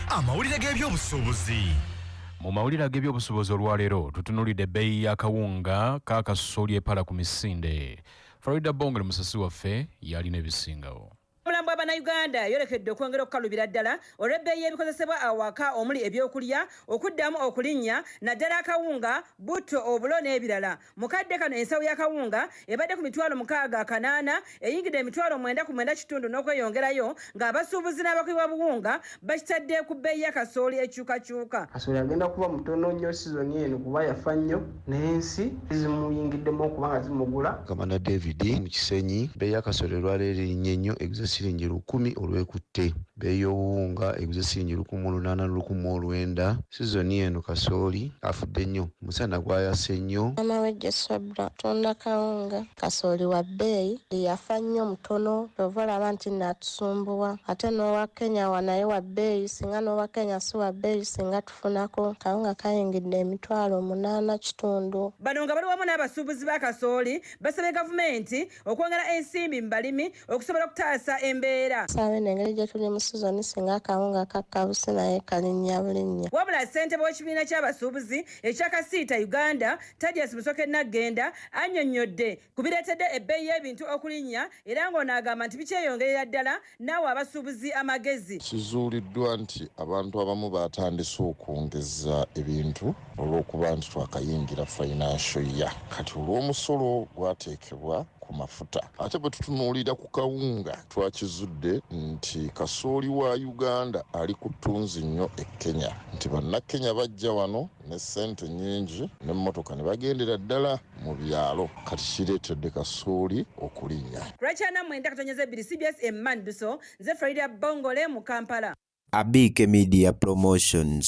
amawulire g'ebyobusuubuzi mu mawulire ag'ebyobusuubuzi olwaleero tutunulidde ebbeeyi y'akawunga k'akasooli epala ku misinde florida bongole musasi waffe yalina ebisingawo omulambo bwa bannayuganda yolekedde okwongera okukalubira ddala olw'ebbeeyi y'ebikozesebwa awaka omuli ebyokulya okuddamu okulinnya naddala akawunga butto obulo n'ebirala Mu kadde kano ensawo ya kawunga ebadde ku mitwalo mukaaga kanaana eyingidde emitwalo mwenda ku mwenda kitundu n'okweyongerayo ng'abasuubuzi n'abakubi b'obuwunga bakitadde ku bbeeyi ya kasooli ekyukakyuka. Kasooli agenda kuba mutono nnyo sizoni eno kuba yafa nnyo n'ensi zimuyingiddemu okuba nga zimugula. Kamanda David mu Kisenyi, Bbeeyi ya kasooli olwaleero erinnye nnyo eguze siringi lukumi olwekutte. Bbeeyi y'obuwunga eguze siringi lukumi lunaana lu lukumi mu lwenda. Sizoni eno kasooli afudde nnyo, omusana gwayase nnyo. Maama w'eggye Swebra atunda kawunga. Kasooli wa bbeeyi, buli yafa nnyo mutono ky'ova olaba nti nno atusumbuwa. Ate n'owa Kenya wa naye wa bbeeyi, singa n'owa Kenya si wa bbeeyi singa tufunako. Akawunga kayingidde emitwalo munaana kitundu. Bano nga bali wamu n'abasuubuzi ba kasooli basabye gavumenti okwongera ensimbi mu balimi okusobola okutaasa embeera saabe nengeri gye tuli mu sizoni singa akawunga kakkabusi naye kalinnya bulinnya wabula ssentebe w'ekibiina ky'abasuubuzi ekya kasiita uganda tadias musoke naggenda annyonnyodde ku bireetedde ebbeeyi y'ebintu okulinnya era ng'ono agamba nti bikyeyongerera ddala n'awa abasuubuzi amagezi. Kizuuliddwa nti abantu abamu baatandise okwongeza ebintu olw'okuba nti twakayingira financial year kati olw'omusolo gwateekebwa ku mafuta. Ate bwe tutunuulira ku kawunga twakizudde nti kasooli wa Uganda ali ku ttunzi nnyo e Kenya nti Bannakenya bajja wano ne ssente nnyingi n'emmotoka ne bagendera ddala mu byalo kati kireetedde kasooli okulinnya. Lwaki ana mwenda katonyeza ebbiri cbs emanduso nze Friday Bongole mu Kampala. Abiike Media Promotions.